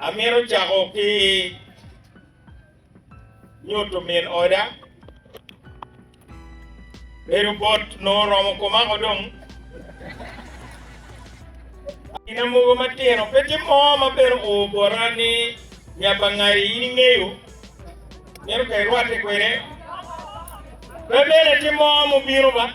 Amito cako ki nyuto min oda bedo bot nongo oromo komako dong. Ina mogo matino pe tye mo ma bedo o bota ni nya bangari in ingeyo mito ka irwate kwede. Pe bene tye mo mubino ba.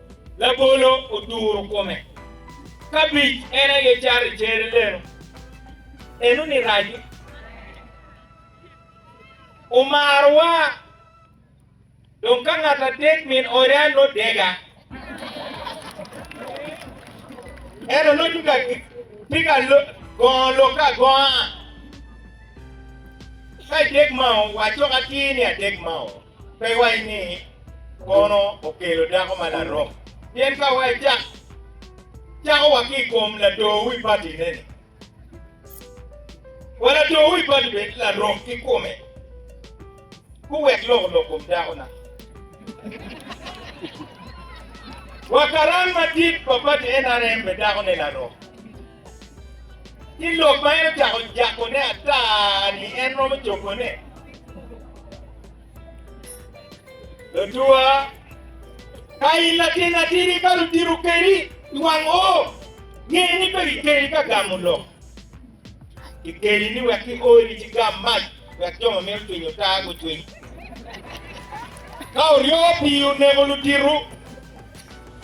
Labolo oturo kome. Kabic en aye cato i cere leno. Eno ni raco. Omarowa. Dong ka ngat adek min ode ano dega. Eno no tye ka tye ka gongo lok ka gonga. Ka idek mao, waco ka atir ni adek mao. Pe iwac ni, 'Kono okelo dako ma larok? Pien ka wacak, cako wa ki i kom lator wi patine-ni. Wa lator wi pati bed larok ki kome, guwek lok olok kom dako-na. Wa karan madit pa pati NRM bed dako-ne larok. Ci lok ma en ocako jakone ata ni en romo cobone. Latua, ka in latin atidi ka lutito kedi i wang o, nge ni pe kikeli ka gamo lok. Kikeli ni wek kioli ci gam mac wek jo ma mito cwinyo ta gucwiny. Ka oryowa pii oneko lutito,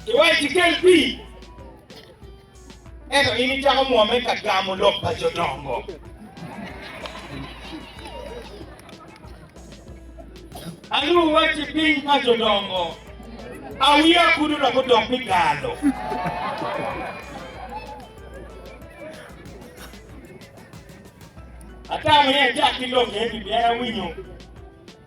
iwaco kikel pii. Ento in icako mwomme ka gamo lok pa jo dongo. Aluu wacci piny pa jo dongo, awiya kudu dok odok pi galo. Atamo ni acak ki lok eni pien awinyo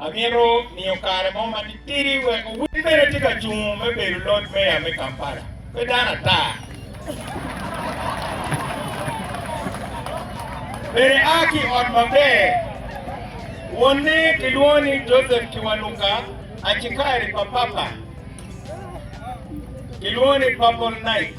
Amito miyo kare mo ma titidi wek owiny bene tye ka cung me bedo Lord Mayor me Kampala. Pe dano ata. Bene a ki i ot maber. Wonne kilwongo ni Joseph Kiwanuka Achikari pa Papa. Kilwongo ni Purple Night.